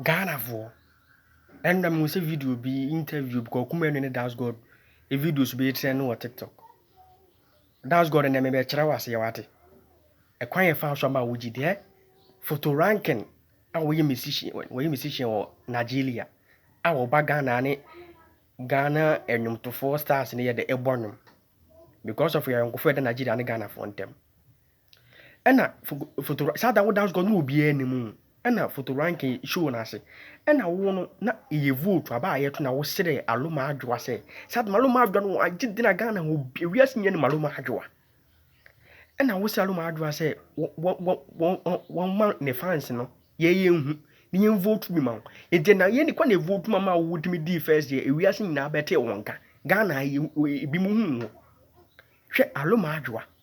Ghanafoɔ, ɛnna mehu sɛ video bi, interview bi, Kwaku Manu ne Das God videos bi retrend wɔ TikTok. Das God nnɛ mebɛkyerɛ wo aseɛ wate. Ɛkwan yɛ fa so ama wo gyidi ɛ. Photo ranking a wɔyɛ musician wɔyɛ musician wɔ Nigeria a wɔba Ghana ne Ghana nnwomtofoɔ stars no yɛ dɛ ɛbɔ nnwom because of yɛn ayɔnkofoɔ a ɛda Nigeria ne Ghanafoɔ ntam. Ɛna foto saa da woda so kɔ na obiara anim ɛna foto ranking show no ase ɛna wo no na ɛyɛ vote aba a yɛto na woserɛ aloma adwoa sɛ saa maloma adwoa no agye de na ghana ho wiase nyɛ ne maloma adwoa ɛna woserɛ aloma adwoa sɛ wɔma ne fans no yɛyɛ nhu ne yɛn vote bi ma wo ɛdeɛ na yɛn kɔ na vote ma ma wotumi dii first deɛ wiase nyinaa bɛtee wɔn ka ghana ebi mu hu wo hwɛ aloma adwoa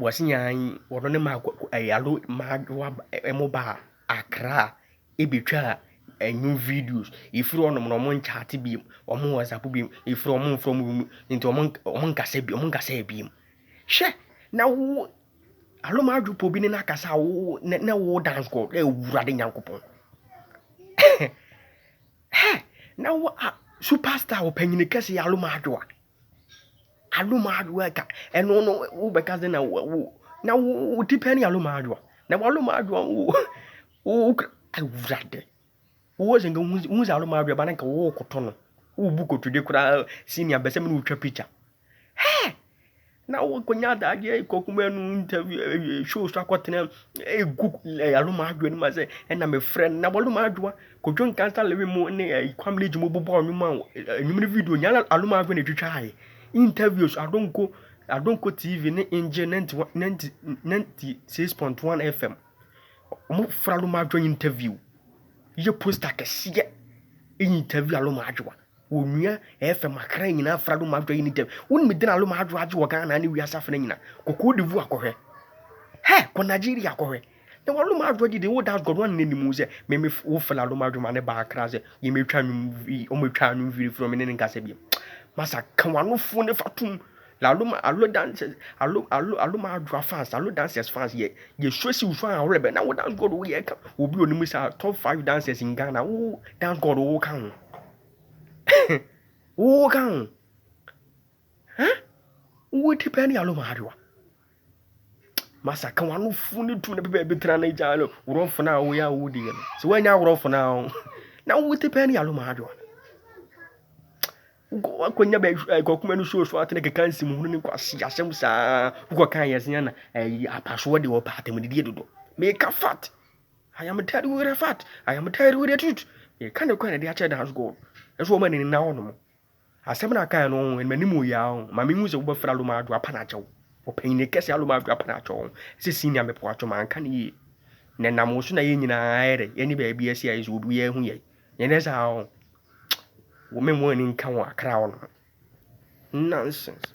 Wɔse nyaa yi wɔno ne maa ɛɛ alo maa doa ɛmo baa Accra ebetwaa ɛnwo videos. Efiri hɔ nom no ɔmo nkyate biom, ɔmo wɔsapo biom, efiri hɔ ɔmo nfrɛ ɔmo biom, nti ɔmo nka ɔmo nkasa biom, ɔmo nkasaɛ biom. Hwɛ! Na wo alo maa dwopa obi ne no akasa a wo nɛ nɛ wo dance kɔ ɛɛ Owurade Nyankopɔn. Hɛ! Na wo a superstar ɔpanyini kɛse alo maa doa. Alomaayewa agya, ɛno no wobɛka sɛ na wo wo na wo wo ti pɛ ne alomaayewa na w'alomaayewa wo wo wo kra Awurade wowɔ sɛ nka wohu sɛ wohu sɛ alomaayewa ba na nka worekɔtɔ no wobu kotodwe koraa senior bɛ sɛ me ne wotwa picture hɛ na woakɔnya adagyeɛ kɔ kuma no interview eh, eh, show so akɔtena ɛgu eh, alomaayewa no ma sɛ ɛna mefrɛ no na w'alomaayewa Kojo Nkansah Lewi mu ne eh, Kwam Leji mu bobɔɔ nnwom a eh, nnwom no video nyɛ na Aloma Ave na etwitwae. Interviews Adonko Adonko TV ne Nje 96.1 FM. Wɔn fra Aloma Adwoa interview. Yɛ poster kɛseɛ ɛyɛ interview Aloma Adwoa. Wɔnua FM akra nyinaa fra Aloma Adwoa yɛ interview. Wɔn mi dina Aloma Adwoa agye wɔ Ghana ne wiase afena nyina. Kɔkɔɔ de vu akɔhwɛ. Hɛ kɔ Nigeria akɔhwɛ. Na wɔnom adwoa didi wo das gɔdɔn ne ne mu sɛ me me wo fela nom adwuma ne baa kra sɛ yɛ me twa nwom vi ɔmo twa nwom viri firi ɔmo ne ne nkasa bi masa ka wano fo ne fatum la alum alo dancers alo alo alo ma adwoa fans alo dancers fans yɛ yɛ sure si wusu a ɔrɛ bɛ na wo dance god wo yɛ ka obi onim sa top 5 dancers in Ghana wo dance god wo ka ho wo ka ho ha wo di pɛ ne alum adwoa Masa ka wano fu ne tu ne bɛbɛ bi tena ne gya no worɔ fana a woyɛ a wodi yɛ no sɛ woanya worɔ fana a na wote pɛ ne yalo ma adwoa wokɔnya bɛ kɔkuma no show so atene keka nsi mu ne kwasi asɛm saa wokɔka yɛ sɛ na apasoɔ de wɔpɛ atamdidie dodo meka fat I am telling you the fact I am telling you the truth meka ne kwan de akyɛ dance god ɛso ɔma ne nina hɔ nom Asɛm no a ɔkae no, ɔma m'anim yɛ a, ɔma mihu sɛ wobɛfrɛ Aloma Adwo apane akyɛ wo. Ɔpanyin kɛse Aloma Adwo apane akyɛ wo. Ɛsɛ Senior me poatwo manka no yie. Na ɛnam wo so na yɛn nyinaa ayɛ dɛ, yɛne baabi asi ayɛ so obiara ahu yɛn. Nyɛ saa o. Wo me mmɔ ani nka ho akra wo no. Nonsense.